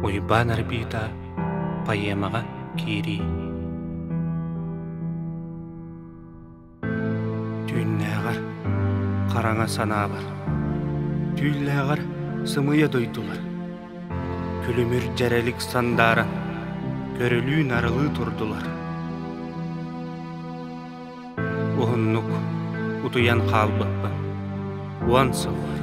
Уйбаан Арбита поэмаҕа киирии түүннээҕэр хараҥа санаабар түүллээҕэр сымыйа дойдулар күлүмүр дьэрэлик сандаара көрүлүү нарылыы турдулар Уһуннук утуйан хаалбыппын. Уон сыллар,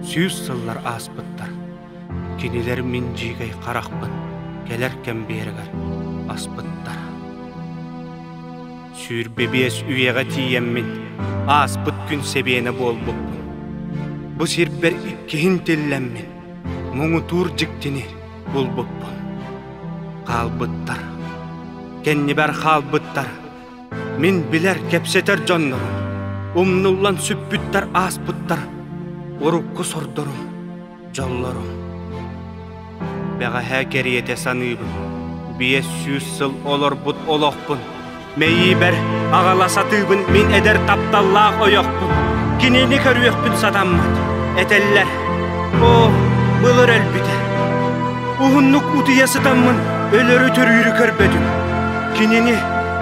сүүс сыллар ааспыттар. Кинилэр мин дьиикэй харахпын кэлэр кэмбиэрэгэр аспыттар. Сүүр бэбиэс үйэҕэ тиийэммин ааспыт күн сэбиэнэ буолбуппун. Бу сирбэр иккиһин тиллэммин муҥутуур дьиктини булбуппун. Хаалбыттар, кэннибэр хаалбыттар Мин билэр, кэпсэтэр дьоннорум, умнуллан сүппүттэр ааспыттар урукку сордорум, дьоллорум. Бэҕэһээ кэриэтэ саныыбын, биэс сүүс сыл олорбут олохпун, мэйиибэр аҕала сатыыбын мин эдэр тапталлаах ойохпун, кинини көрүөхпүн сатаммат, этэллэр, «Оо, былыр өлбүтэ, уһуннук утуйа сытаммын өлөрү төрүүрү көрбөтүм». Кинини,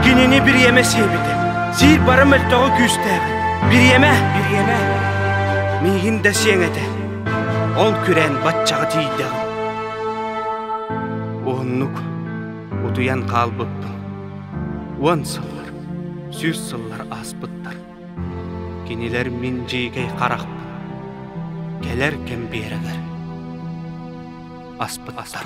кинини бириэмэ сиэбитэ. Сиир бары мөлтөҕө күүстээбит. Бириэмэ, бириэмэ. Миигин да сиэҥ этэ. Ол күрэн баччаҕа тиийдэҕим. Уһуннук утуйан хаалбыппын. Уон сыллар, сүүс сыллар ааспыттар. Кинилэр мин дьиикэй харахпын, кэлэр кэмбиэрэлэр. Аспыттар.